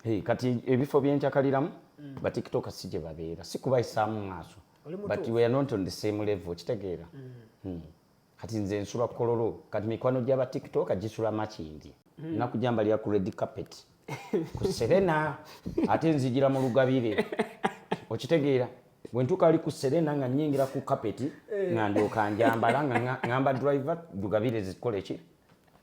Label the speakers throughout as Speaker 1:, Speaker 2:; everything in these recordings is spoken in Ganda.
Speaker 1: Hey, kati ebifo byencakaliramu mm. batiktoka si gye babeera si kubayisaamu maaso but we are not on the same level kitegeera mm. mm. kati nze nsula kololo kati mikwano gyaba tiktoka gisula makindi mm. naku jambalira ku red carpet ku serena ate nzijira mu lugabire okitegeera bwentuka ali ku serena nga nyingira ku carpet eh. nga ndyoka njambala nga ngamba driver lugabire zikola eki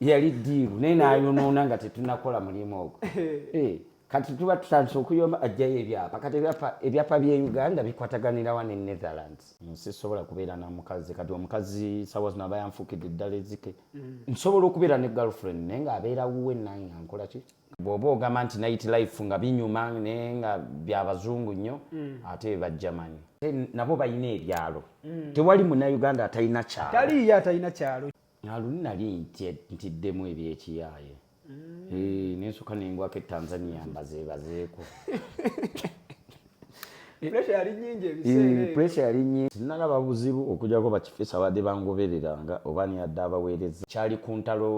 Speaker 1: yali diiru naye nayonoona nga tetunakola mulimu ogwo eh, kati tuba tutandise okuyoma ajjayo ebyapa kati ebyapa bye uganda bikwataganirawa ne netherlands nsisobola mm, kubeera na mukazi kati omukazi sawa zino aba yanfukidde eddala ezike mm. nsobola okubeera ne girlfriend naye nga abeera wuwe nange ankola ki bwoba ogamba nti night life nga binyuma naye nga byabazungu nnyo mm. ate bajjamanyi nabo balina ebyalo tewali munauganda atalina kyalo taliyo atalina kyalo
Speaker 2: aluni nali
Speaker 1: ntiddemu ebyekiyaaye mm. nensuka nengwako etanzania mbazebazeeko
Speaker 2: pressure yali nyingi ebiseera eh, pressure yali nyingi
Speaker 1: sinalaba buzibu okujako bakifesa abadde bangobereranga oba niyadde abaweereza kyali ku ntalo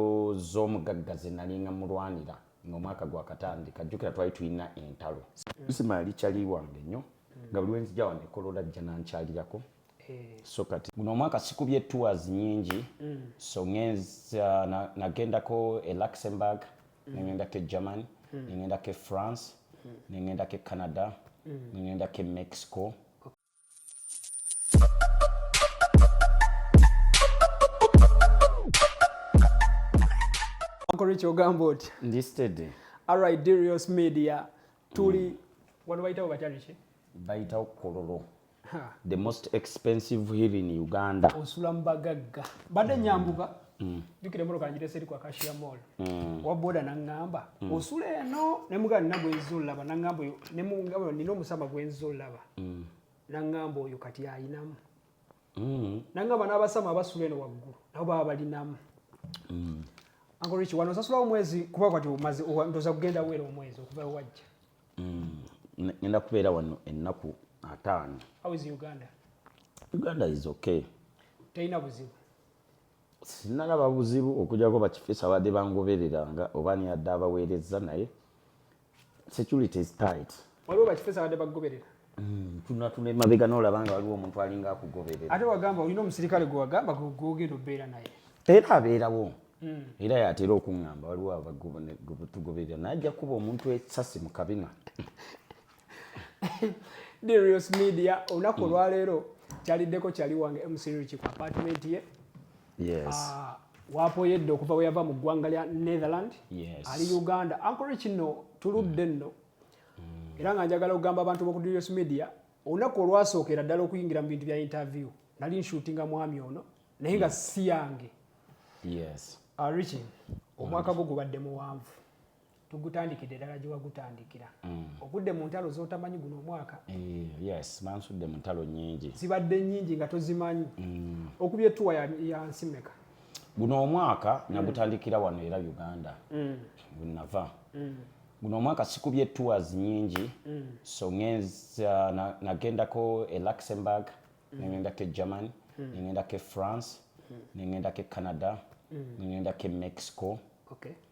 Speaker 1: z'omugagga ze nalinga mulwanira ng'omwaka gwakatandika jjukira twali tulina entalo simaali kyali wange nnyo nga buli wenzija wano ekolola jja nankyalirako Eh. so kati guno omwaka sikubye tours nyingi mm. so ngenza nagendako e luxembourg mm. nengendako e germany mm. nengendako e france nengendako e canada nengendako e mexico Uncle
Speaker 2: Rich ogamba otya ndi steady
Speaker 1: alright dirios
Speaker 2: media tuli wano bayitawo batya biki bayitawo
Speaker 1: kololo the most expensive hill in uganda osula mubagagga
Speaker 2: badde mm. nyambuka mm. jukira emotoka njirese eri kwa kashiya mall mm. waboda nangamba osula eno nemuga nina gwenza olaba nangamba oyo nemugamba nina omusama gwenza olaba nangamba oyo kati ayinamu mm. nanga bana abasama abasula eno waggulu nabo baba balinamu mm. angoriki wano osasula omwezi kuba kwati omaze ndoza kugenda weera omwezi okuva wajja mm.
Speaker 1: ngenda kubeera wano ennaku ataano how is uganda
Speaker 2: uganda
Speaker 1: is okay teyina buzibu sinalaba buzibu okujako bakifisa badde bangobereranga oba niyadde abaweereza naye security is tight waliwo bakifesa badde
Speaker 2: bakugoberera hmm, tunatuna
Speaker 1: emabega nolaba nga waliwo omuntu alinga akugoberera ate wagamba olina
Speaker 2: omusirikale gwewagamba gwogenda obeera naye era abeerawo
Speaker 1: hmm. era yatera okuŋamba waliwo abatugoberera naye ajja kuba omuntu esasi mu kabina
Speaker 2: dirios media olunaku hmm. olwaleero kyaliddeko kyali wange mcriki ku apatimenti ye yes.
Speaker 1: uh, wapoyedde
Speaker 2: okuva bwe yava mu ggwanga lya netherland yes. ali uganda
Speaker 1: ankole
Speaker 2: kino tuludde mm. nno mm. era nga njagala okugamba abantu boku durious media olunaku olwasookera ddala okuyingira mu bintu bya interview nali nshutinga mwami ono naye nga mm. si yange yes.
Speaker 1: uh, riching
Speaker 2: omwaka gwo gubadde muwanvu tugutandikidde ddala gye wagutandikira mm. ogudde mu ntalo z'otamanyi guno omwaka eh, yes
Speaker 1: bansudde mu ntalo nyingi zibadde nyingi nga
Speaker 2: tozimanyi mm. okuba etuwa ya nsi meka guno
Speaker 1: omwaka mm. nagutandikira wano era uganda wenava guno omwaka sikubye tours nyingi so ngenza nagendako e luxembourg nengendako e germany nengendako e france nengendako e canada nengendako e mexico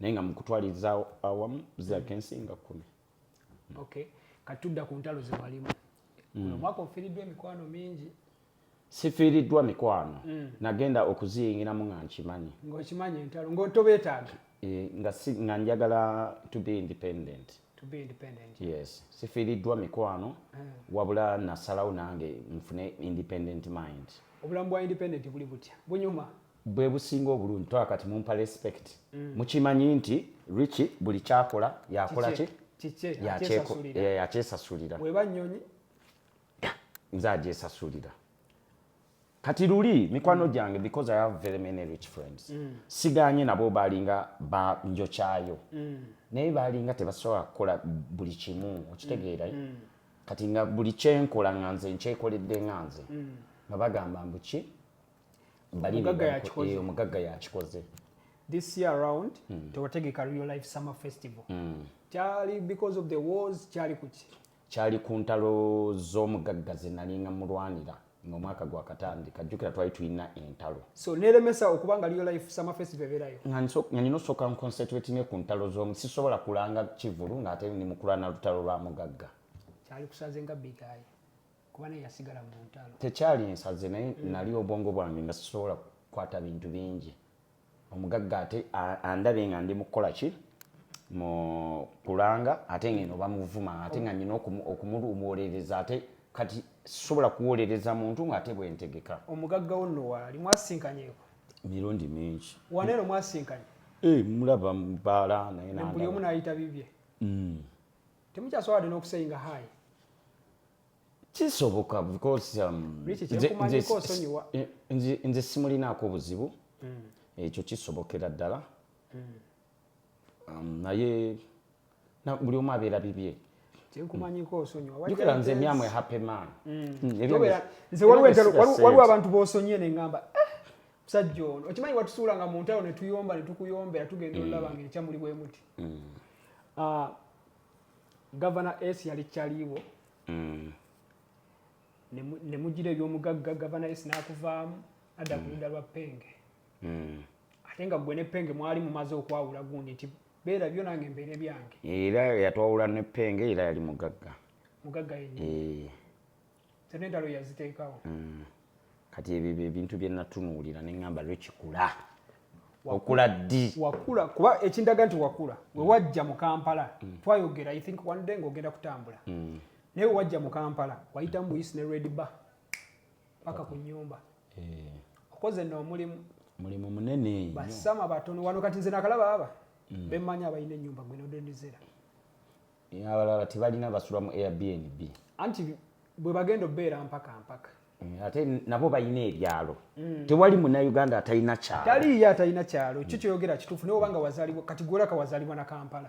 Speaker 1: naye nga mukutwaliriza awamu zirabika mm. ensi nga kumi mm.
Speaker 2: okay kati tudda ku ntalo zewalimu mm. omwaka ofiiriddwa emikwano mingi sifiiriddwa
Speaker 1: mikwano mm. nagenda okuziyingiramu nga nkimanyi ngaokimanyi entalo
Speaker 2: ngaotobeetaaga e, nga, si,
Speaker 1: nga njagala to be independent to be independent
Speaker 2: yes sifiiriddwa
Speaker 1: mikwano mm. wabula nasalawo nange
Speaker 2: nfune independent mind
Speaker 1: obulamu
Speaker 2: bwa independent
Speaker 1: buli
Speaker 2: butya
Speaker 1: bunyuma bwebusinga obulungi toa kati mumpa respect mm. mukimanyi nti richi buli kyakola yakola ki yakyesasulira eh, nze agyesasulira kati luli mikwano mm. gyange because i have very many rich friends mm. siganye nabo balinga banjokyayo mm. naye balinga tebasobola kukola buli kimu okitegeera mm. mm. kati nga buli kyenkola nga nze nkyekoledde nga nze mm. nga bagamba mbuki omugagga yakikoze this year
Speaker 2: around mm. tewategeka real life summer festival mm. kyali because of the wars kyali kuki kyali ku ntalo
Speaker 1: z'omugagga zenalinga mulwanira ngomwaka gwakatandika jjukira twali tulina entalo so neremesa
Speaker 2: okuba nga liyo life summer festival ebeerayo nga nina osooka
Speaker 1: nconcentrate ne ku ntalo z'omu sisobola kulanga kivulu ng'ate ni mukulana lutalo lwa mugagga kyali kusaze
Speaker 2: nga bigayi kuba naye yasigala mu ntalo. Tekyali nsaze naye
Speaker 1: mm. nali obwongo bwange nga sisobola kukwata bintu bingi. Omugagga ate andabe nga ndi mukukola ki mu kulanga ate ngeno bamuvuma ate nga nina okumuluwolereza ate kati sisobola kuwolereza muntu ngaate bwentegeka. Omugagga wo nno
Speaker 2: waali mwasinkanyeko? Mirundi
Speaker 1: mingi. Waneero mwasinkanye?
Speaker 2: Eh, mulaba
Speaker 1: mubaala naye nambuli omu nayita bibye
Speaker 2: mm. temukyasobola wadde n'okuseyinga hayi kisoboka
Speaker 1: because um, nze simulinaako obuzibu mm. ekyo kisobokera ddala mm. um, naye buli omu abeera bibye kyenkumanyiko
Speaker 2: osonyiwajukira nze myamwe happy
Speaker 1: man mm.
Speaker 2: nze waliwo abantu bosonyiye nengamba eh, musajja ono okimanyi watusuula nga muntalo netuyomba netukuyombera tugenda olulaba nga ekyamuli bwemuti Ah, gavana s yali kyaliiwo mm. ne mugira ebyomugagga gavana s n'akuvaamu adda ku mm. ludda lwa penge mm. ate nga gwe ne penge mwali mumaze okwawula gundi nti beera byo nange mbeere byange era yatwawula
Speaker 1: ne penge era yali mugagga mugagga yennyini
Speaker 2: eh. zonna entalo yaziteekawo mm.
Speaker 1: kati ebyo byebintu byenatunuulira neŋamba lwekikula wakula ddi wakula kuba
Speaker 2: ekindaga nti wakula mm. wewajja mu kampala mm. twayogera i think one day ngaogenda kutambula naye wewajja mu kampala wayita mu buyisi ne red bar paka ku nyumba eh. okoze no omulimu mulimu
Speaker 1: munene basama batono
Speaker 2: wano kati nze nakalaba aba bemanya abalina enyumba gwenodendizera Eh,
Speaker 1: abalala tebalina basula mu airbnb anti
Speaker 2: bwe bagenda obeera mpaka mpaka eh, ate
Speaker 1: nabo balina ebyalo mm. tewali munauganda atalina kyalo taliiyo atalina kyalo
Speaker 2: kyo kyoyogera kituufu naye obanga wazalibwa kati gwolaka wazalibwa na kampala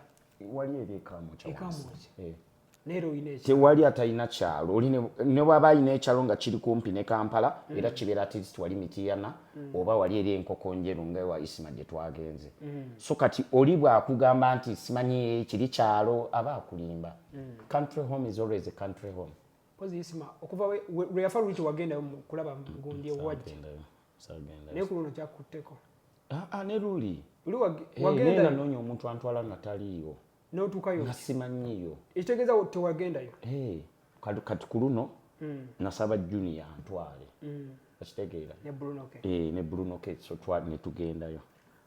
Speaker 2: wali eri
Speaker 1: ekamukyaekamuki
Speaker 2: eh. tewali atalina kyalo
Speaker 1: oli ne bwaba alina ekyalo nga kiri kumpi ne kampala mm. era kibeera at least wali mitiyana mm. mm. oba wali eri enkoko njeru nga ewa isima gye twagenze mm. so kati oli bwakugamba nti simanyi kiri kyalo aba akulimba mm. country home is always a country home pozi isima
Speaker 2: okuva lwe yafa luli kyewagendayo kulaba mugundi ewajja naye ku luno kyakutteko ah, ah, ne
Speaker 1: luli luli eh, wagendayo
Speaker 2: nanoonya omuntu antwala
Speaker 1: nataliiwo notukayo
Speaker 2: nasimanyiyo
Speaker 1: ekitegeza
Speaker 2: tewagendayo hey,
Speaker 1: kati ku luno mm. nasaba junior antwale mm. okitegeera ne bruno ke eh, ne bruno ke so twa ne tugendayo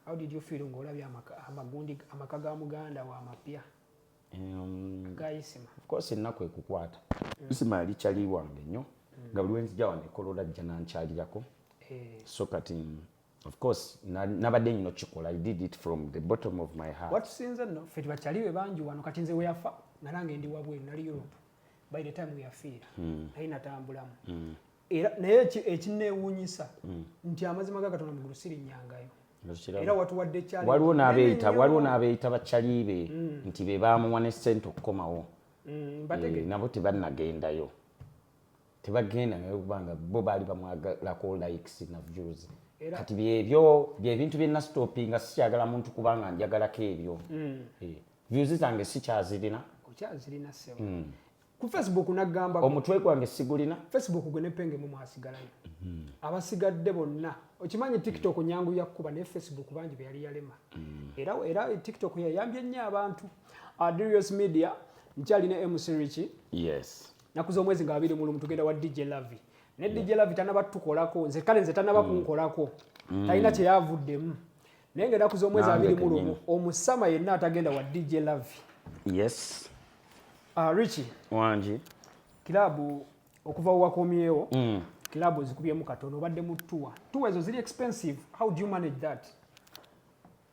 Speaker 1: how did you feel
Speaker 2: ngo olabye amagundi amaka ga muganda wa mapya um, gayisima of course ennaku
Speaker 1: ekukwata mm. isima yali kyali wange nnyo mm. nga buli wenzija wano ekolola jja nankyalirako eh. so kati of course nabadde nyina okikola i did it from the bottom of my heart watusinze no fe tibakyali
Speaker 2: be bangi wano kati nze weyafa nga nange ndi wabweru nali europe by the time weyafiira hmm. naye natambulamu hmm. era naye ekinewunyisa hmm. nti amazima ga katonda mugulu sirinyangayo era watuwadde kyali waliwo n'abeeyita waliwo
Speaker 1: n'abeeyita bakyalibe nti be baamuwa ne ssente okukomawo eh, nabo tebannagendayo tebagenda naye kubanga bo baali bamwagalako likes na views kati byebyo byebintu bye nastopinga sikyagala muntu kubanga njagalako ebyo mm. eh, views zange sikyazirina okyazirina
Speaker 2: sebo mm. ku facebook nagamba omutwe gwange sigulina
Speaker 1: facebook gwe nepenge
Speaker 2: mu mwasigalayo mm. abasigadde bonna okimanyi tiktok mm. nyangu yakuba naye facebook bangi beyali yalema mm. era era tiktok yayambye nnyo abantu adrius media nkyalina msiriki yes naku z'omwezi nga babiri mulumu tugenda wa dj lavi naye dj lavi tanaba tukolako nze kale nze tanaba mm. kunkolako mm. talina kyeyavuddemu naye nga enaku z'omwezi abiri mulumu omusama yenna atagenda wa dj lavi yes ah, richi
Speaker 1: wangi
Speaker 2: kilabu okuva wewakomyewo mm. kilabu ozikubyemu katono obadde mu tuwa tuwa ezo ziri expensive how do you manage that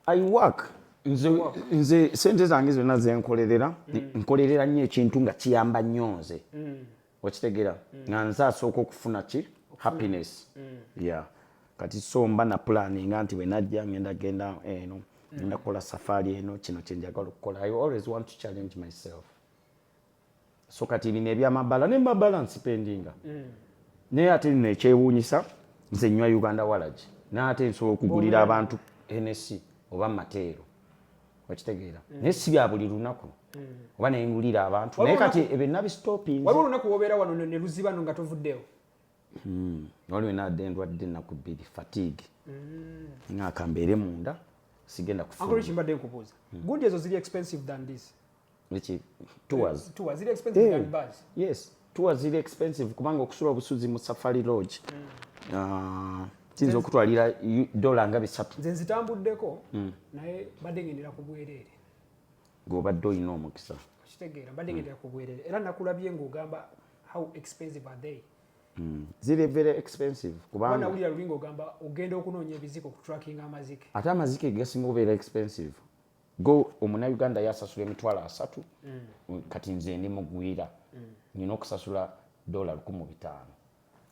Speaker 1: I work nze nze sente zange zonna zenkolerera mm. nkolerera nnyo ekintu nga kiyamba nnyo nze mm. okitegera mm. nga nze asooka okufuna ki happiness ya kati so mba na pulani nga nti wenajja ngenda genda eno ngenda kukola safaari eno kino kyenjagala okukola i always want to challenge myself so kati bino ebyamabala ne mabala nsipendinga mm. naye ate lino ekyewuunyisa nze nywa uganda walagi naye ate nsobola okugulira oh, abantu henesi oba mateero okitegeera mm. naye si bya buli lunaku mm. oba naye ngulira abantu naye kati ebyo nabistoping waliwo olunaku wobeera wano
Speaker 2: ne luziba no nga tovuddewo hmm.
Speaker 1: waliwo enadde ndwadde ennaku bbiri fatigue hmm. nga kambeere munda sigenda kufuukimbadde nkubuuza
Speaker 2: hmm. gundi ezo ziri expensive than this Liki
Speaker 1: tours. Tours zile expensive hey. Eh,
Speaker 2: than bus. Yes. Tours zile
Speaker 1: expensive kubanga okusula obusuzi mu Safari Lodge. Mm. Uh, Tinzo kutwalira dola nga bisatu. Nze
Speaker 2: nzitambuddeko mm. naye badde ngendera ku bwereere. Gobadde
Speaker 1: olina omukisa. Kitegeera badde mm. ngendera
Speaker 2: ku bwereere era nakulabye ng'ogamba how expensive are they? Mm. Ziri
Speaker 1: very expensive kubanga bana ulira lulingo gamba
Speaker 2: ogenda okunoonya ebiziko ku tracking amazike. Ate amazike gasinga
Speaker 1: obeera expensive. go omunayuganda yasasula emitwalo asatu mm. kati nze ndi mugwira mm. nina okusasula dola lukumu bitaano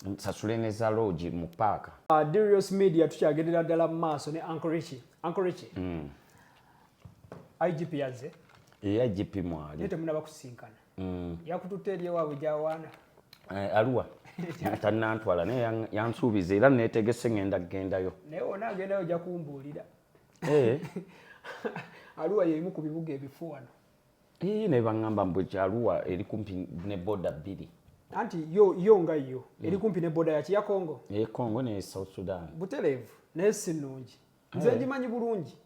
Speaker 1: nsasule ne za logi mu paaka uh, dirios media
Speaker 2: tukyagendera ddala mu maaso ne ankorichi ankorichi mm. igp yazze e igp
Speaker 1: mwali naye temunaba kusinkana
Speaker 2: mm. yakututte eri ewaabwe gyawaana eh, aluwa
Speaker 1: tanantwala naye yansuubiza era netegese ngenda kugendayo naye wona agendayo oja
Speaker 2: kumbuulira Eh. aluwa yemu ku bibuga ebifu wano ii naye
Speaker 1: baŋŋamba mbu ekyaluwa eri kumpi ne boda bbiri anti yo
Speaker 2: yo nga yo mm. eri kumpi ne boda yaki ya congo eye congo ne south
Speaker 1: sudan butereevu naye
Speaker 2: si nnungi eh. nze ngimanyi bulungi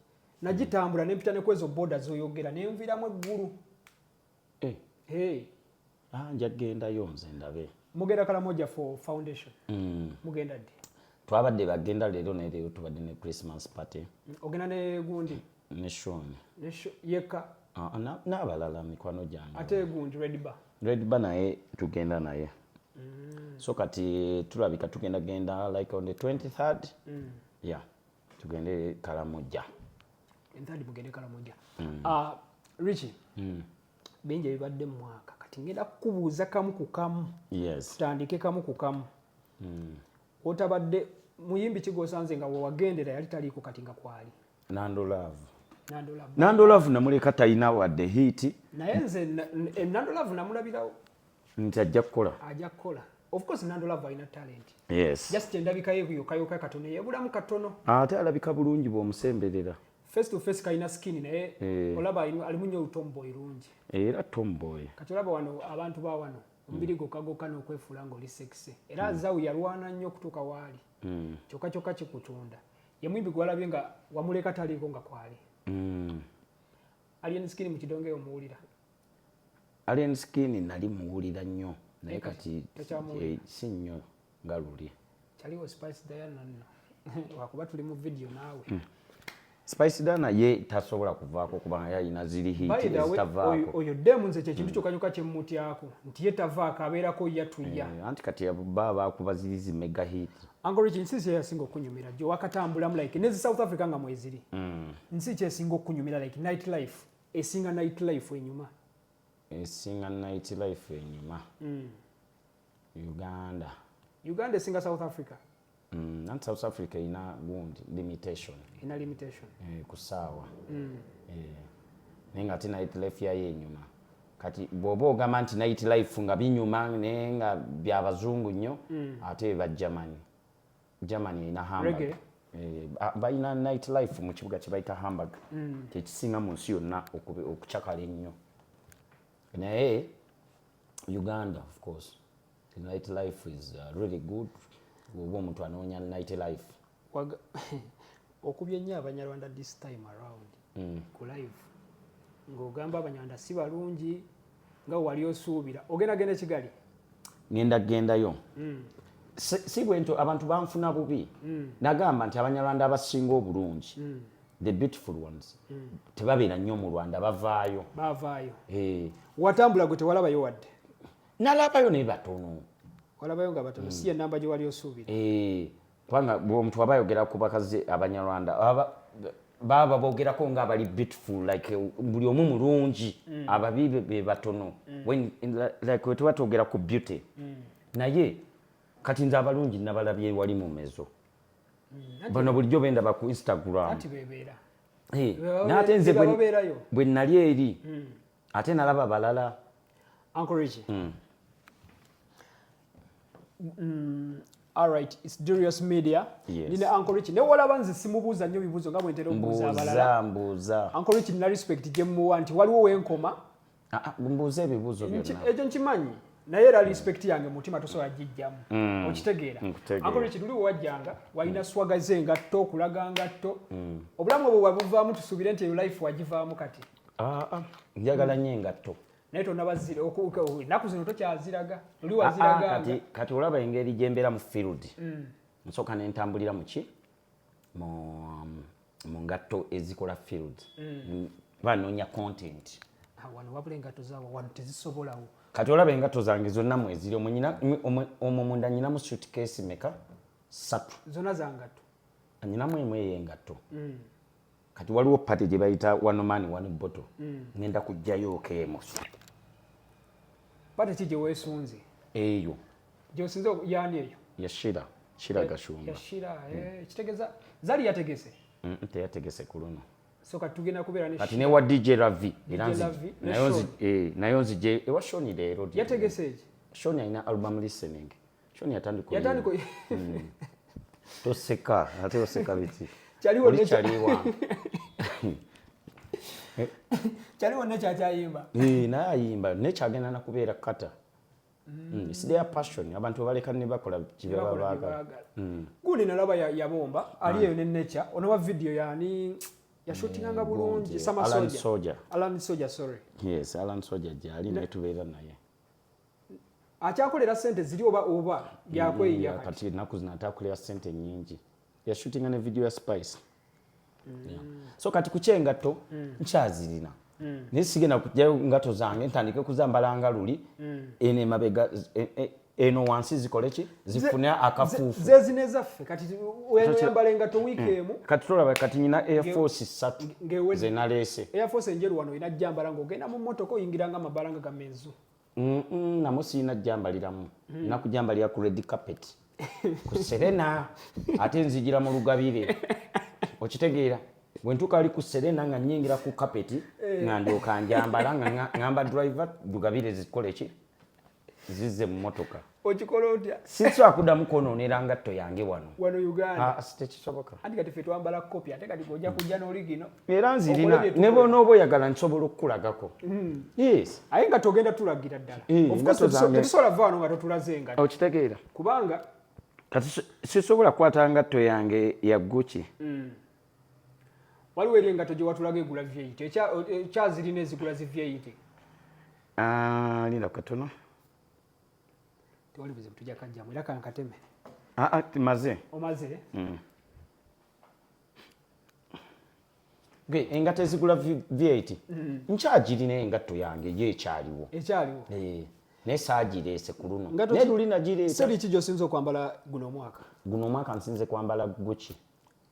Speaker 2: nagitambula nempita ne kwezo boda zoyogera nenviiramu eggulu eh. hey.
Speaker 1: ah, nja gendayo nze ndabe mugenda kalamoja
Speaker 2: for foundation mm. mugenda ddi twabadde bagenda
Speaker 1: leero naye leero tubadde ne christmas party mm, ogenda ne
Speaker 2: gundi ne shon
Speaker 1: yekka
Speaker 2: ah,
Speaker 1: n'abalala na, na mikwano gyange ate gundi redba
Speaker 2: redba naye
Speaker 1: tugenda naye mm. so kati tulabika tugenda genda like on the 23rd mm. yeah tugende kalamoja enthadi mugende kalamoja mm.
Speaker 2: uh, ah, richi mm. bingi ebibadde mu mwaka kati ngenda kukubuuza kamu ku kamu yes. tutandike
Speaker 1: kamu ku kamu
Speaker 2: mm. otabadde muyimbi kigosanze nga wewagendera yali taliiko kati nga kwali nandolavu
Speaker 1: nandolavu namuleka talina wadde hiiti naye nze
Speaker 2: enandolavu namulabirawo nti ajja
Speaker 1: kukola ajja kukola of course
Speaker 2: nando love alina talent yes just endabika
Speaker 1: ye kuyo
Speaker 2: kayo ka katono yebulamu katono ate alabika bulungi
Speaker 1: bwomusemberera face to face
Speaker 2: kalina skin naye eh. olaba alimu nyo tomboy lungi era tomboy
Speaker 1: kati olaba wano
Speaker 2: abantu ba wano omubiri mm. gokagoka n'okwefuula ng'oli sexy era mm. zawu yalwana nnyo okutuuka waali mm. kyokka kyokka kikutunda ye muyimbi gwalabye nga wamuleka taliiko nga kwali mm. alien skin mu kidongeyo omuwulira
Speaker 1: Alien Skin nali muwulira nnyo naye kati eh, si nnyo nga luli. Kyaliwo Spice
Speaker 2: Diana nno wakuba tuli mu vidiyo naawe. Hmm. Spice
Speaker 1: Dana ye tasobola kuvaako kubanga yalina ziri hiiti ezitavaako. Oyo demu nze kyekintu
Speaker 2: hmm. kyokka kyokka kye mmutyako nti ye tavaako abeerako yatuya. Eh, anti kati baba
Speaker 1: baakuba ziri zi mega hiiti. Uncle Richie nsi kye
Speaker 2: yasinga okunyumira gye wakatambulamu like ne South Africa nga mweziri. Hmm. Nsi kyesinga okunyumira like night life. esinga night life enyuma esinga
Speaker 1: night life enyuma mm. uganda
Speaker 2: uganda esinga south africa mm, not south
Speaker 1: africa ina gundi limitation ina limitation
Speaker 2: eh, kusaawa mm.
Speaker 1: eh, naye nga ate night life yayo enyuma kati bwoba ogamba nti night life nga binyuma naye nga byabazungu nnyo mm. ate bajjamanyi Germany erina Hamburg. Reggae. Eh, ah, balina night life mu kibuga kye bayita Hamburg. Mm. Kyekisinga mu nsi yonna okube- okucakala ennyo. Naye Uganda of course the night life is uh, really good. Oba omuntu anoonya night life. Waga-
Speaker 2: okubye nnyo abanyarwanda this time around mm. ku live ng'ogamba abanyarwanda si balungi nga wali osuubira ogenda genda kigali ngenda
Speaker 1: gendayo mm. si bwento abantu banfuna bubi mm. nagamba nti abanyarwanda abasinga obulungi mm. the beautiful ones mm. tebabeera nnyo mu rwanda bavaayo bavaayo hey.
Speaker 2: Eh.
Speaker 1: watambula gwe
Speaker 2: tewalabayo wadde nalabayo naye
Speaker 1: batono
Speaker 2: walabayo nga batono mm. si enamba gyewali osuubira hey. Eh. kubanga
Speaker 1: omuntu aba ayogera ku bakazi abanyarwanda baba bogerako nga abali beautiful like buli omu mulungi mm. ababi be batono mm. like wetuba twogera ku beauty mm. naye kati nze abalungi nabalabye wali mu mezo bano bulijjo bendaba ku instagram naye ate nze bwe nali eri ate nalaba balala Uncle Richie.
Speaker 2: Mm. Mm, all right, it's Durious Media. Yes. Nina Uncle Richie. Ne wala banzi simubuza nyo bibuzo nga mwentero mbuza balala. Mbuza, mbuza. Uncle Richie
Speaker 1: nina respect
Speaker 2: jemu wanti. Waliwo wenkoma. Ah, ah, mbuze
Speaker 1: bibuzo vyo na. Ejo nchimanyi.
Speaker 2: Na yera respect yange mutima tuso ya jijamu. Mm. Ochitegira. Uncle Richie tuli wajanga. Waina mm. swaga zenga to, kulaga anga to. Mm. Obulamu wabuva mtu subirente yu life wajiva mkati. Mm. ah, ah, njagala
Speaker 1: nyo engatto naye tonabazira
Speaker 2: ennaku zino tokyaziraga oli waziraganga ah, kati olaba engeri
Speaker 1: gyembeera mu field mm. nsooka nentambulira muki um, mu ngatto ezikola field mm. banoonya content wano wabula
Speaker 2: engatto zawo wano tezisobolawo kati olaba engatto
Speaker 1: zange zonna mweziri omwo munda nyinamu suitcase meka satu zona zangatto
Speaker 2: nyinamu emu
Speaker 1: eyengatto mm. kati waliwo pate gye bayita one man one bottle mm. ngenda kujjayo okeemu
Speaker 2: pate ki gye weesunze eyo
Speaker 1: gyosinze
Speaker 2: yani eyo yashira shira
Speaker 1: gashumba yashira mm. eh,
Speaker 2: kitegeza zali yategese mm, teyategese
Speaker 1: ku luno kati
Speaker 2: newa dj ravi
Speaker 1: nayo nzije ewa shoni leero yategese eki
Speaker 2: shoni alina album
Speaker 1: listening Kyoni yatandika yatandika hmm. toseka ate oseka biti kyaliwo ne kyaliwa
Speaker 2: kyaliwo ne kyakyayimba eh naye ayimba
Speaker 1: ne kyagenda na kubeera kata Mm. mm. It's their passion. Abantu baleka ne bakola kibaba baga. Mm. Guli na laba
Speaker 2: ya yabomba ali yo ne nature. Ono wa video ya ni ya shooting anga mm, bulungi sama soja. Alan soja. Alan soja sorry. Yes, Alan soja
Speaker 1: jali ne tubera naye.
Speaker 2: akyakolera sente ziri oba oba yakweyiya mm, kati enaku zino ate
Speaker 1: akolera sente nyingi yashutinga ne video ya spice mm. so kati kukyengatto mm. nkyazirina mm. naye sigenda kujjayo ngato zange ntandike kuzambalanga luli mm. eno emabega e, e, eno wansi zikole ki zifune akafuufu zezino ezaffe kati
Speaker 2: oyambala engato wiiki hmm. emu kati tolaba kati nyina
Speaker 1: airforce ssatu zenaleese airforce enjeru wano olina
Speaker 2: jambala ngaogenda mu motoka oyingira nga amabala nga gamenzu namu
Speaker 1: sirina jambaliramu hmm. nakujambalira ku red carpet ku serena ate nzijira mu lugabire okitegeera bwentuka ali ku serena nga nyingira ku kapeti eh. nga ndyoka njambala nga ngamba driver lugabire zikoleki zize mu motoka okikola otya
Speaker 2: sisobola kuddamu
Speaker 1: kwonoonera ngatto yange wano wano uganda ah,
Speaker 2: tekisoboka anti
Speaker 1: kati fe twambala
Speaker 2: kopi ate kati gojja kujja n'oli gino era nzirina
Speaker 1: ne bwonooba oyagala nsobola okukulagako hmm. yes aye nga togenda
Speaker 2: tulagira ddala eh, tetusobola va wano nga totulaze engatto okitegeera kubanga kati
Speaker 1: sisobola kukwata ngatto yange ya guki hmm.
Speaker 2: waliwo eri engato gye watulaga egula vyeyite ekyazirina ezigula zi vyeyite ah,
Speaker 1: linda katono
Speaker 2: tewali buzibu tujja kajjamu era kankateme ah, ah, maze
Speaker 1: omaze mm. ge engato ezigula vyeyite mm. nkyagirina engatto yange ye ekyaliwo ekyaliwo eh. naye saagireese ku luno naye luli nagireeseri ki gyosinza okwambala
Speaker 2: guno omwaka guno omwaka nsinze
Speaker 1: kwambala guki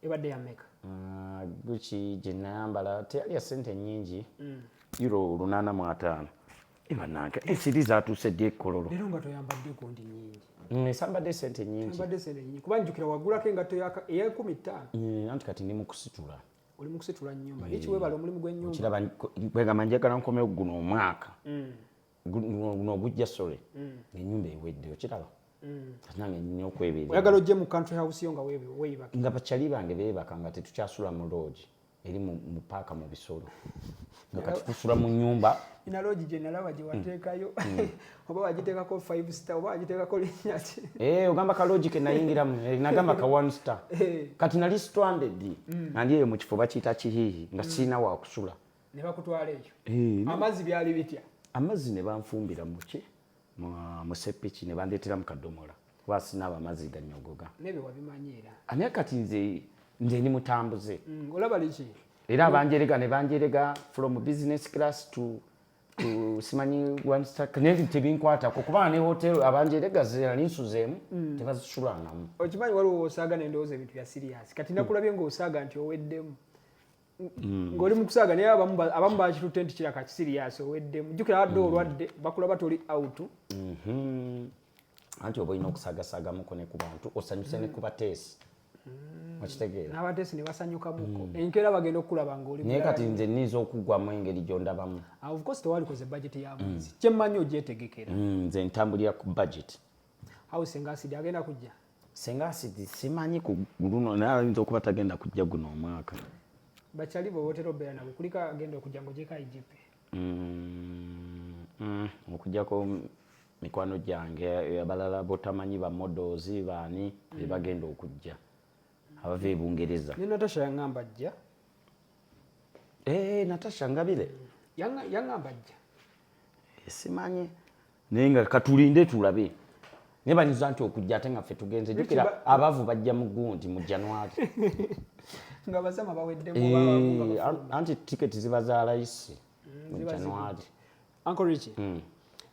Speaker 1: ebadde yameka
Speaker 2: ah, guki
Speaker 1: gyenayambala teyalya sente nyingi mm. euro lunana mu ataano ebananka ensiri eh, zatuuse ddi ekololo leero nga toyambadde
Speaker 2: gundi nyingi mm, esambadde sente
Speaker 1: nyingi kuba njukira
Speaker 2: wagulako engatto eyekumi ttaano mm, anti kati ndi
Speaker 1: mukusitula oli mukusitula
Speaker 2: nyumba ekiwebala omulimu gwenyumba kiraba kwegamba
Speaker 1: njagala nkomewo guno omwaka guno gujja sorry mm. enyumba ewedde okiraba mm. nange nina okwebeera oyagala ojje mu country
Speaker 2: house yo nga weyibaka nga bakyali bange
Speaker 1: beebaka nga tetukyasula mu loogi eri mu paaka mu bisolo nga kati tusula mu nyumba ina loogi gye nalaba
Speaker 2: gye wateekayo mm. oba wagiteekako five star oba wagiteekako linnya ki eh, ogamba ka loogi ke
Speaker 1: nayingiramu eh, nagamba ka one star eh. kati nali stranded nandi eyo mu kifo bakiyita kihiihi nga sirina wakusula ne bakutwala
Speaker 2: eyo eh, amazzi byali bitya amazzi ne banfumbira
Speaker 1: muki musepiki ne bandeetera mu kadomola kuba sinaaba amazzi ganyogoga nebe wabimanyi
Speaker 2: era anaye kati nze
Speaker 1: nze ndi mutambuze mm, olaba liki
Speaker 2: era
Speaker 1: banjerega ne banjerega from business
Speaker 2: class
Speaker 1: to to simanyi one star kanenti tebinkwatako kuba ne hotel abanjerega zera ninsuzeemu mm. tebazisulangamu okimanyi waliwo
Speaker 2: osaaga nendowooza ebintu bya siriasi kati nakulabye ngaosaaga nti oweddemu Mm. ng'oli mu kusaaga naye abamu bakitutte nti kiraka kisiriyasi oweddemu jjukira abadde mm. olwadde bakulaba toli out mm-hmm.
Speaker 1: anti oba olina okusagasagamuko ne ku bantu osanyuse ne ku bateesi mm. okitegeera n'abateesi ne
Speaker 2: basanyukamuko enkeera bagenda okukulaba ng'oli naye kati nze nniiza
Speaker 1: okugwamu engeri gy'ondabamu ah, ofcourse tewalikoze
Speaker 2: bajeti ya mwezi kyemmanyi ogyetegekera nze ntambulira
Speaker 1: ku bajeti house
Speaker 2: engasidi agenda kujja senga asidi
Speaker 1: simanyi ku luno naye ayinza okuba tagenda kujja guno omwaka bakyali bwe
Speaker 2: wotera obeera nabo kulika agenda okujja ngaogyeko igp mm,
Speaker 1: mm, okujjako mikwano gyange abalala botamanyi ba models baani bebagenda okujja abava ebungereza ne natasha yangamba
Speaker 2: ajja Eh,
Speaker 1: Natasha Ngabire yangamba
Speaker 2: ajja eh,
Speaker 1: simanyi naye nga katulinde tulabe naye banyuza nti okujja ate nga ffe tugenze jukira abavu bajja mu gundi mu januari
Speaker 2: nga basama baweddemu eh, anti tiketi
Speaker 1: ziba za layisi mm, mu januari ankoriki
Speaker 2: mm.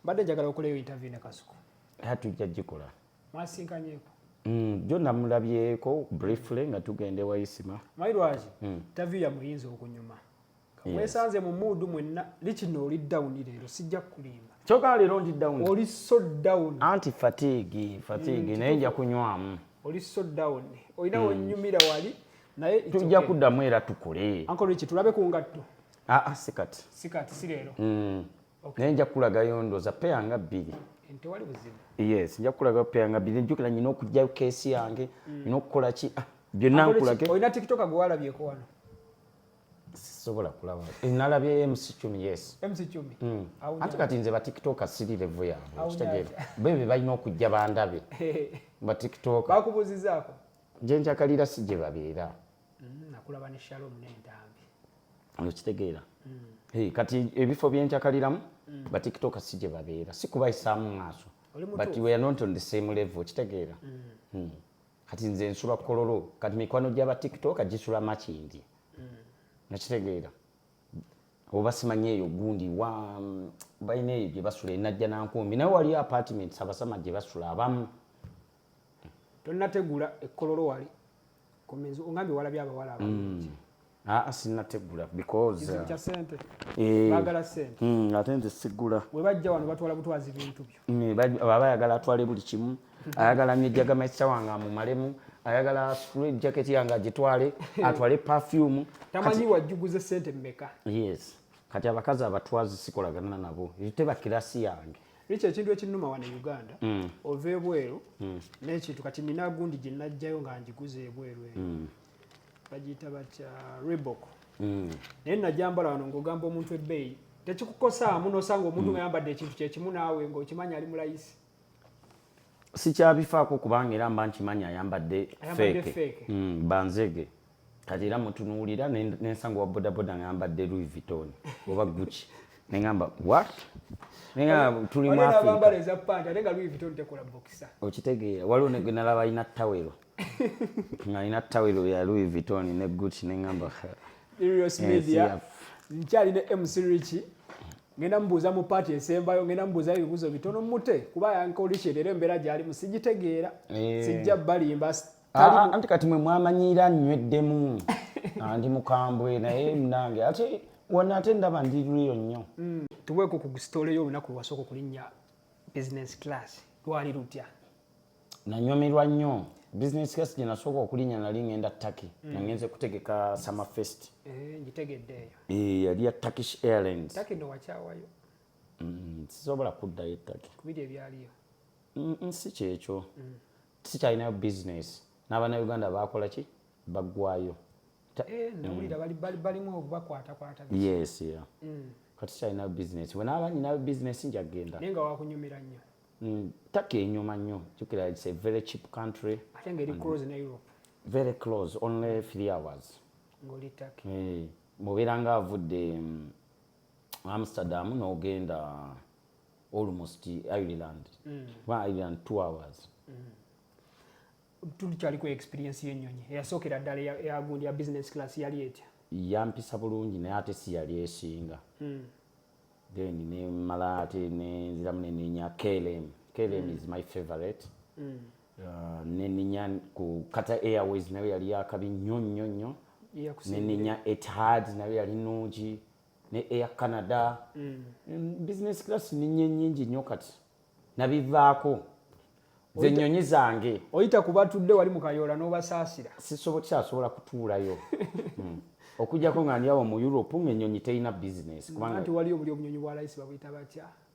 Speaker 2: mbadde njagala okuleyo interview ne kasuku tujja gikola
Speaker 1: mwasinkanyeko
Speaker 2: Mm, jo
Speaker 1: namulabyeko briefly nga tugenda ewayisima mayi lwaki mm.
Speaker 2: tavi yamuyinza okunyuma kamwesanze yes. mu muudu mwenna likino oli down leero sijja kukulimba kyoka leero ndi down
Speaker 1: oli so down
Speaker 2: anti fatigue
Speaker 1: fatigue mm, naye nja kunywamu oli so down
Speaker 2: olina mm. wonyumira wali naye tujja kuddamu era
Speaker 1: tukule ankoliki tulabe ku
Speaker 2: ngatto aa ah, ah, sikati
Speaker 1: sikati si leero
Speaker 2: mm. naye nja
Speaker 1: kukulagayo ndoza peya nga bbiri
Speaker 2: yes nja kukulagayo
Speaker 1: peya nga bbiri njukira nyina okugjayo keesi yange mm. nyina okukola ki ah, byonna nkulage olina tiktok gwe walabyeko
Speaker 2: wano
Speaker 1: sisobola kulaba eh, nalabye mc cumi yes mc cumi mm.
Speaker 2: ate kati
Speaker 1: nze batiktoka siri levo yaabwe okitegeera bebe balina okujja bandabe batiktoka bakubuuzizaako
Speaker 2: nje njakalira
Speaker 1: si gye babeera Mm, nakulaba ne
Speaker 2: Shalom ne Ntambi. Okitegeera.
Speaker 1: Mm. Hey, kati ebifo byenjakaliramu mm. ba TikTok si gye babeera si kubayisaamu maaso but we are not on the same level okitegeera. Mm. Hmm. Kati nze nsula kololo kati mikwano gy'aba TikTok gisula makindi. Mm. Nakitegeera. oba simanyi eyo gundi wa mm, balina eyo gye basula enajja nankumbi naye waliyo apartment sabasama gye basula abamu tonategula
Speaker 2: ekkololo wali komenzi ongambye walabye abawala abangi mm. aa ah, sinategula
Speaker 1: because uh, eh, bagala sente
Speaker 2: mm, ate nze sigula
Speaker 1: webajja wano batwala
Speaker 2: butwazi bintu byo mm, baba ayagala atwale
Speaker 1: buli kimu ayagala mijaga maisa wange amumalemu ayagala straight jacket yange agitwale atwale perfume tamanyi wajjuguze
Speaker 2: sente mmeka yes kati
Speaker 1: abakazi abatwazi sikolagana nabo tebakirasi yange Richa ekintu ekinnuma
Speaker 2: wano e Uganda mm. ova ebweru mm. n'ekintu kati nina gundi gye najjayo nga ngiguze ebweru eyo mm. bagiyita batya Reebok mm. naye najambala wano ng'ogamba omuntu ebbeeyi tekikukosaamu n'osanga omuntu mm. nga yambadde ekintu kye kimu naawe ng'okimanyi ali mulayisi sikyabifaako
Speaker 1: kubanga era mba nkimanyi ayambadde feeke mm, banzege kati era mutunuulira nensanga wa bodaboda ngayambadde louis vuitton oba gucci nengamba what tuli okitegeera waliwo nalaba alina tawero ngaalina tawero ya louis vuitton ne gucci nengamba
Speaker 2: nkyali ne mc richi ngenda mubuuza mu paati esembayo ngenda mubuuza ebibuuzo bitono mute kuba yankolisheleero embeera gyali musigitegeera eh. sijja balimba Ah, ah, anti kati
Speaker 1: mwe mwamanyiira nnyweddemu andi mukambwe naye munange ate wona ate ndaba ndi riyo nnyo mm. tuweeko ku
Speaker 2: sitole yo olunaku lwewasooka okulinnya business class lwali lutya nanyumirwa
Speaker 1: nnyo business class gye nasooka okulinnya nali ngenda turkey mm. nangenze kutegeka summer fest eh, ngitegeddeeyo
Speaker 2: eh, yali ya turkish
Speaker 1: airlines turkey no wakyawayo
Speaker 2: mm,
Speaker 1: sisobola kuddayo turkey kubiri ebyaliyo
Speaker 2: si
Speaker 1: kyekyo sikyalinayo bizinesi n'abannayuganda baakola ki baggwayo
Speaker 2: eh, yes
Speaker 1: mm. kati sikyalinayo bizinesi bwe naaba nyinayo bizinesi nja kugenda naye nga wakunyumira nnyo
Speaker 2: mm, taka
Speaker 1: enyuma nnyo jukira its a very cheap country ate nga eri close ne
Speaker 2: europe very close
Speaker 1: only three hours ngoli taki
Speaker 2: eh, mubeera nga
Speaker 1: avudde mm, amsterdam n'ogenda almost Ireland mm. ba Ireland 2 hours mm. tuli
Speaker 2: kyali ku experience y'ennyonyi eyasookera ddala eyagundi ya business class yali
Speaker 1: etya yampisa
Speaker 2: bulungi
Speaker 1: naye ate si
Speaker 2: yali
Speaker 1: esinga
Speaker 2: mm.
Speaker 1: then nemala ate nenziramu nenenya klm klm mm. is my favorite mm. uh, nenenya ku kata airways nayo yali yakabi nnyo nnyo nnyo nenenya etihad nayo yali nungi ne air canada mm. business class ninye nyingi nnyo kati nabivaako nze nnyonyi zange oyita ku batudde wali
Speaker 2: mu kayoola n'obasaasira sikyasobola
Speaker 1: kutuulayo hmm. okujjako nga ndiawo mu europe ng'ennyonyi terina bizinesi kubanganti waliyo buli obunyonyi
Speaker 2: bwa layisi babuyita batya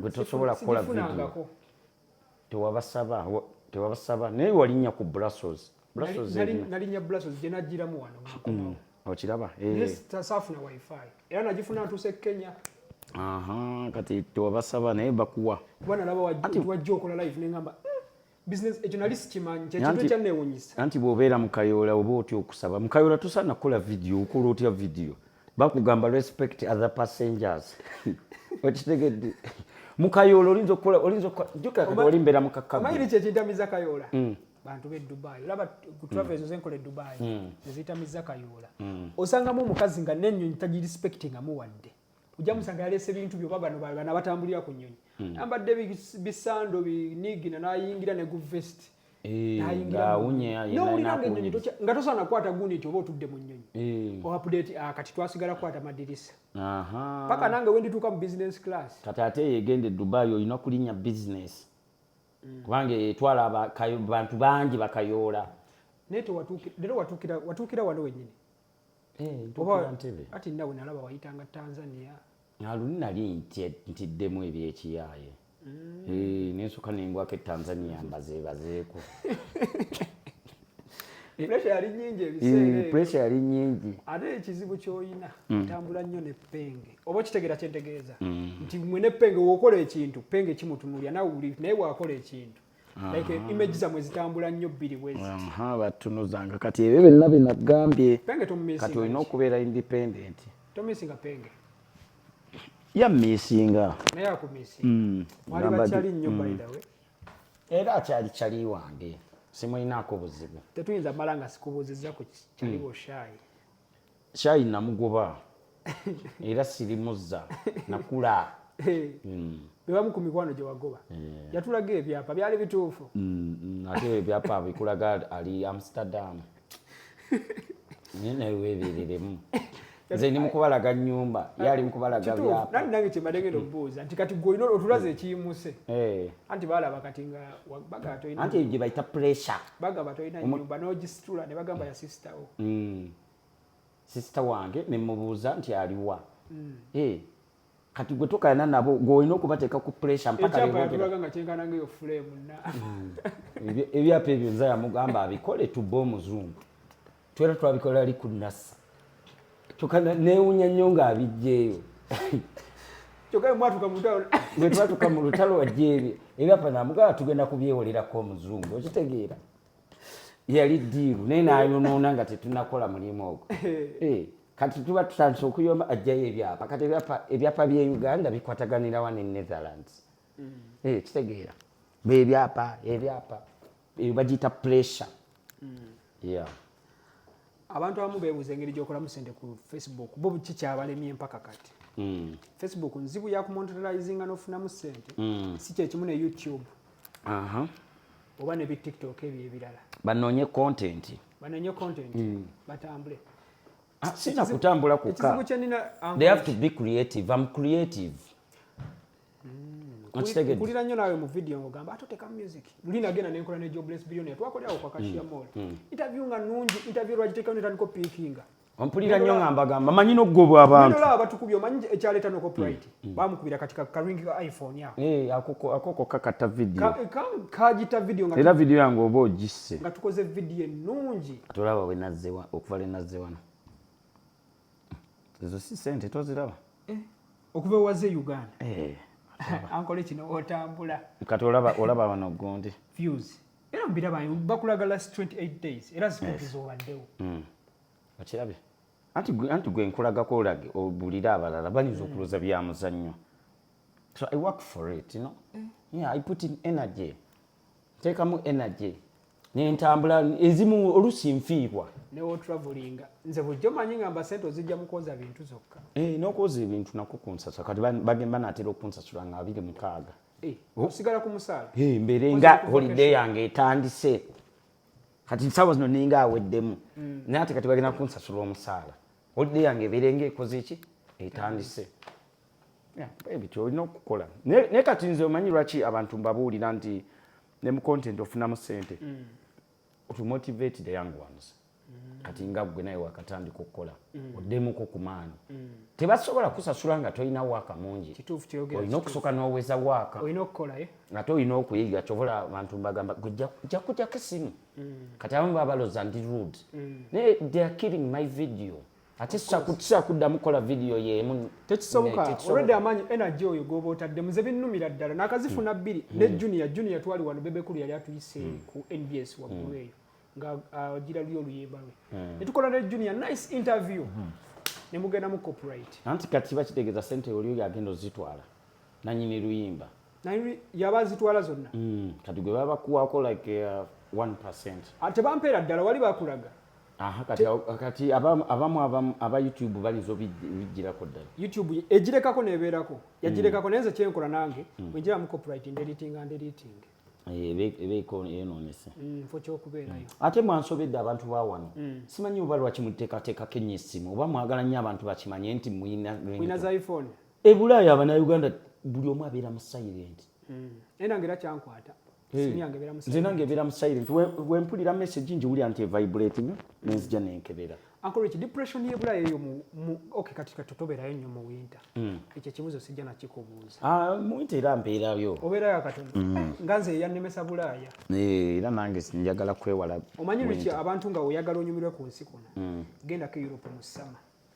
Speaker 1: gwe tosobola kukola vidiyo tewabasaba tewabasaba naye walinnya ku brussels nalinya
Speaker 2: brussels gye najjiramu wano mm, okiraba
Speaker 1: eh. saafuna
Speaker 2: wifi era nagifuna ntuuse kenya
Speaker 1: kati tewabasaba naye bakuwa kuba nalaba
Speaker 2: wajja okola live nengamba business ekyo nali sikimanyi kyekintu ekyanneewunyisa anti bw'obeera mu
Speaker 1: kayoola oba otya okusaba mu kayoola tosaana kukola vidiyo okola otya vidiyo bakugamba respect other passengers okitegedde mu kayoola olinza okukola olinza okukola jukira kati oli mbeera mu kakkaomayiri kyekintamiza kayoola
Speaker 2: mm. bantu be dubai olaba ku travel ezo zenkola e dubai mm. eziyitamiza kayoola mm. osangamu omukazi nga nenyonyi tagirespectingamu wadde ojja musanga yaleese bintu byoba bano bana batambulira ku nnyonyi hmm. ambadde bisando binigina nayingira ne gu vest eh, nowuliranga ennyonyi nga tosaana kukwata gundi nti oba otudde mu nnyonyi eh. oapdate oh, ah, kati twasigala kukwata madirisa paka nange wendituuka mu business class kati ate yegende
Speaker 1: dubai olina okulinya business hmm. kubanga etwala abantu bangi bakayoola naye
Speaker 2: tewatuukira wano wenyini eh, ati nawe nalaba wayitanga tanzania naluni nali
Speaker 1: ntiddemu ebyekiyaaye mm. eh, nensuka nengwako etanzania mbazebazeeko Eh, pressure yali nyingi ebiseera eh, pressure yali nyingi ate ekizibu
Speaker 2: kyolina mm. ntambula nnyo ne penge oba okitegeera kyentegeeza mm. nti mwe ne penge wokola ekintu penge kimutunulya nawe wuli naye wakola ekintu like eh, image zamwe zitambula nnyo bbiri bweziha batunuzanga
Speaker 1: kati ebyo byonna binagambye kati olina
Speaker 2: okubeera
Speaker 1: independent tomisinga penge
Speaker 2: ya misinga
Speaker 1: naye akumisinga
Speaker 2: mm, wali bakyali nnyo by mm. the way era akyali
Speaker 1: kyali wange simulinaako buzibu tetuyinza mala nga
Speaker 2: sikubuuzizza ku kyali mm. boshaayi
Speaker 1: Kyayi namugoba era sirimuzza nakula. Hmm.
Speaker 2: bebamu ku mikwano gye wagoba eh. yatulaga ebyapa byali bituufu hmm, hmm, ate
Speaker 1: ebyapa bikulaga ali amsterdam naye nawe webereremu nze ndi mukubalaga nyumba ye ali mukubalaga byapa nani nange kyembadde ngenda okubuuza
Speaker 2: nti kati gwe olina otulaze ekiyimuse eh. anti balaba kati nga bagatoanti gye bayita pressure
Speaker 1: bagamba tolina nyumba
Speaker 2: nogisitula ne bagamba ya sister wo mm.
Speaker 1: sister wange ne mubuuza nti aliwa mm. hey. Eh, kati gwe tokayana nabo gweolina okubateeka ku pressure mpaka mm. ebyapa ebyo nza yamugamba abikole tubbe omuzungu twera twabikola ali ku nasa kyoka newunya nnyo ng'abijjeeyo bwe twatuka mu lutalo wajjeebye ebyapa namugala tugenda kubyewolerako omuzungu okitegeera yali diiru naye nayonoona nga tetunakola mulimu ogwo eh, kati tuba tutandise okuyomba ajjayo ebyapa kati ebyapa bye uganda bikwataganirawa ne netherlands mm. eh, kitegeera bebyapa ebyapa eyo bagiyita pressure yeah
Speaker 2: abantu abamu beebuuza engeri gyokolamu sente ku facebook bo ki kyabalemye empaka kati mm. facebook nzibu yakumontralizinga nofunamu sente mm. si kyekimu ne youtube uh -huh. oba ne bitiktok ebyo ebirala banoonye content
Speaker 1: banoonye content mm. batambule
Speaker 2: ah, sina
Speaker 1: kutambula kuka they have to be creative am creative
Speaker 2: okitegedde kulira nnyo naawe mu video ng'ogamba ate otekamu music luli nagenda ne nkola ne jobless billionaire twakolerawo kwa kashiya mm. mall mm. interview nga nungi interview lwagiteekawo netandiko piikinga ompulira nnyo nga
Speaker 1: mbagamba manyi n'okugobwa abantu olaba batukubye omanyi
Speaker 2: ekyaleeta no copyright mm, bamukubira kati karingi ka iphone ako eh, akoko kakata
Speaker 1: video kagita
Speaker 2: video era video yange oba ogisse
Speaker 1: nga tukoze video
Speaker 2: ennungi tulaba wenazze
Speaker 1: okuva lwenazze wano
Speaker 2: ezo si
Speaker 1: sente toziraba eh, okuva ewaze
Speaker 2: e uganda
Speaker 1: eh,
Speaker 2: ankola kino otambula kati olaba
Speaker 1: wano gundi fuse era
Speaker 2: mubiraba bakulaga last 28 days era zikutiza obaddewo hmm.
Speaker 1: okirabye anti gwe nkulagako olage obulire abalala bayinza hmm. okuloza bya muzannyo so i work for it you know? Eh. yeah, i put in energy teekamu energy nentambula ezimu olusi nfiirwa newotravelinga
Speaker 2: nze bujjo manyi ngamba sente ozijja mukwoza bintu zokka eh, nokwoza ebintu
Speaker 1: nako kunsasula kati bagemba natera okunsasula nga abiri mukaaga eh, oh. osigala
Speaker 2: ku musaala eh, mbeere nga
Speaker 1: holiday yange etandise kati sawa zino ninga aweddemu mm. naye ate kati bagenda kunsasula omusaala holiday yange ebeere nga ekoze ki etandise ebityo olina okukola naye kati nze omanyi lwaki abantu mbabuulira nti ne mu content ofunamu sente mm. to motivate the young ones mm. kati nga gwe naye wakatandika okukola mm. oddemuko ku maani tebasobola kusasula nga tolina waaka mungi olina okusooka
Speaker 2: n'oweza
Speaker 1: waaka eh?
Speaker 2: ate olina okuyiga
Speaker 1: kyobola abantu mbagamba gweja kujako esimu kati abamu babaloza ndi rude naye they are killing my video ate sikyakuddamu kukola vidiyo yeemu tekisoboka olwedde
Speaker 2: amaanyi energy oyo goba otadde muze binnumira ddala nakazifuna hmm. bbiri ne hmm. junior junior twali wano bebekulu yali atuyise hmm. ku nbs waggulu eyo nga agira uh, luyo oluyimba lwe netukola ne junior nice interview ne mugenda mu copyright anti kati bakitegeeza
Speaker 1: sente oli oyo agenda ozitwala nanyini luyimba naye yaba
Speaker 2: azitwala zonna mm, kati gwe baba
Speaker 1: bakuwaako like uh, 1 ah, tebampeera
Speaker 2: ddala wali bakulaga
Speaker 1: kati abamu aba youtube bayinza obijjirako ddala youtube egirekako
Speaker 2: nebeerako yagirekako mm. naye nze kyenkola nange mm. bwenjira mu copyright nderiting and editing
Speaker 1: ebeeyonoonese mm, nfo kyokubeerayo
Speaker 2: mm. ate mwansobedde
Speaker 1: abantu ba wano mm. simanyi oba lwaki muteekateekako ennyo essimu oba mwagala nnyo abantu bakimanye nti mulina za
Speaker 2: iphone e bulaaya abanauganda
Speaker 1: buli omu abeera mu silent hmm. naye nange era
Speaker 2: kyankwata nze
Speaker 1: nange ebeera mu silent wempulira message njiwulira nti evibrating nenzija nenkebera ankoreki depression
Speaker 2: yebulaaya eyo ok kati kati tobeerayo nnyo mu winter hmm. ekyo ekibuzo sijja nakikubuuza ah, mu winter era
Speaker 1: mbeerayo obeerayo akatono hmm.
Speaker 2: eh, nga nze eyannemesa bulaaya eh, era nange
Speaker 1: njagala kwewala omanyi lweki abantu
Speaker 2: nga oyagala onyumirwe ku nsi kuno gendako europe mu summer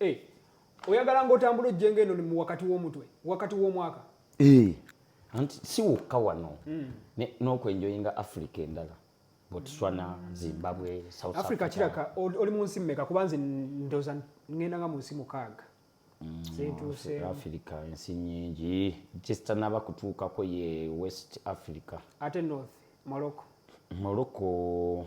Speaker 1: Eh,
Speaker 2: oyagala ng'otambula ojjenga eno mu wakati w'omutwe wakati w'omwaka eh,
Speaker 1: anti si wokka wano hmm. n'okwenjoyinga africa endala botswana hmm. zimbabwe south africa kiraka oli mu
Speaker 2: nsi mmeka kuba nze ndoza ngenda nga mu nsi mukaaga hmm, zentuseafrica
Speaker 1: ensi nyingi kisitanaba kutuukako ye west africa ate north
Speaker 2: morocco morocco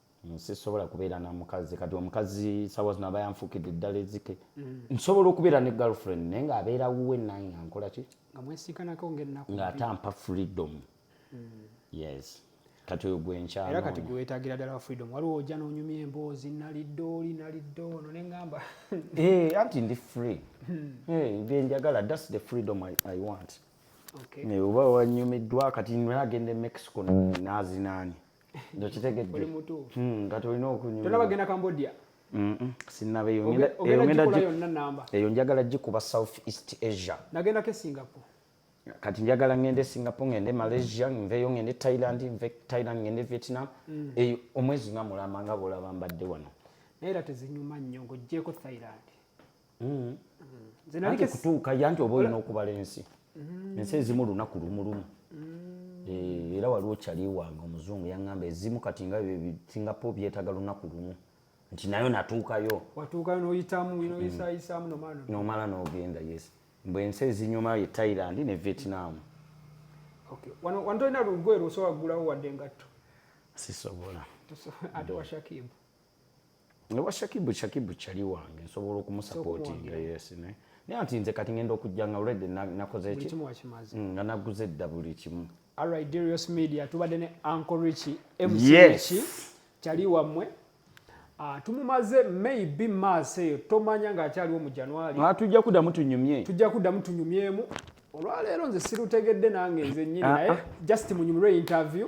Speaker 2: sisobola kubeera
Speaker 1: na mukazi kati omukazi sawa zino aba yanfukidde eddala ezike mm. nsobola okubeera ne girlfriend naye nga abeera wuwe nange nga nkola ki nga ate
Speaker 2: ampa freedom
Speaker 1: mm. yes kati oyo gwenkyanoera kati gwewetagira ddala
Speaker 2: freedom waliwo ojja nonyumya emboozi nalidde oli nalidde ono neŋamba eh, anti
Speaker 1: ndi free hmm. eh, byenjagala thats the freedom i, I want oba
Speaker 2: wanyumiddwa
Speaker 1: kati nagenda e mexico nazinaani ndokitegedde hmm,
Speaker 2: nga tolina
Speaker 1: okunyumtolabagenda
Speaker 2: cambodia
Speaker 1: eyo njagala gikuba south east asia nagendako
Speaker 2: esingapore kati njagala
Speaker 1: ngende singapore ngende malaysia nveyo ngende thailand nve thailand ngende vietnam mm. eyo omwezi nga mulamba nga bwolaba mbadde wano naye era tezinyuma
Speaker 2: nnyo ngaogyeko thailand mm.
Speaker 1: nze kutuuka ya nti oba olina okubala ensi mm. ensi ezimu lunaku lumulumu mm. eh, era waliwo kyali wange omuzungu yaŋŋamba ezimu kati nga singapo byetaga lunaku lumu nti nayo natuukayo watuukayo noyitamu
Speaker 2: mm. noyisayisaamu nomala nomala
Speaker 1: nogenda yes mbu ensi ezinyuma ye thailand ne vietnam
Speaker 2: wano tolina
Speaker 1: lugoye
Speaker 2: lwosobola kugulawo wadde engatto
Speaker 1: sisobola
Speaker 2: ate washakibu ne
Speaker 1: wa shakibu shakibu chali wange nsobola okumusapotinga yes ne naye nti nze kati ngenda okujja nga already nakoze ki mm, nga naguze dda buli kimu alright darius
Speaker 2: media tubadde ne uncle richie mc yes. chali wamwe Uh, tumumaze maybe maso eyo tomanya nga akyaliwo mu januari ah, tujja kuddamu tunyumye
Speaker 1: tujja kuddamu tunyumyemu olwaleero
Speaker 2: nze sirutegedde nange nze nyini ah, naye ah. just munyumire interview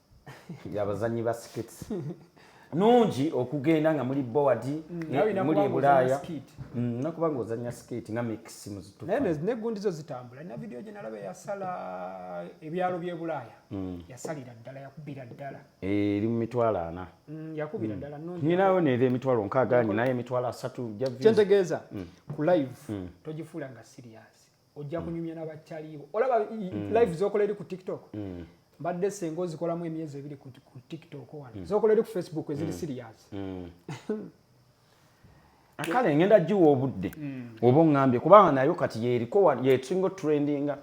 Speaker 1: abazanyi ba skits nungi okugenda nga muli board mm, muli ebulaaya mm, nakuba nga ozanya skit nga mix muzitunegundizo
Speaker 2: zitambula na vidiyo gye nalaba yasala ebyalo byebulaaya mm. yasalira ddala yakubira ddala eh, eri mu mitwalo
Speaker 1: ana yakubira ddala
Speaker 2: nyinayo neera emitwalo
Speaker 1: nkaaga nyinayo emitwalo asatu kyentegeeza
Speaker 2: ku live togifuula nga sirias ojja kunyumya nabataliibo olaba mm. live zokola eri ku tiktok mm. mbadde senga ozikolamu emyezi ebiri ku tiktok wano mm. zokola eri ku facebook eziri serious
Speaker 1: kale ngenda giwa obudde oba ongambye kubanga nayo kati yeriko yesinga trendinga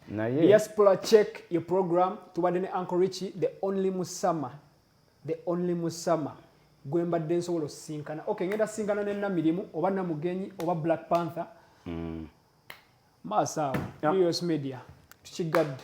Speaker 1: naye diaspora check
Speaker 2: your program tubadde ne uncle richie the only musama the only musama gwe mbadde nsobola osisinkana ok ngenda sisinkana ne namirimu oba namugenyi oba black panther mm. maaso awo us media tukigadde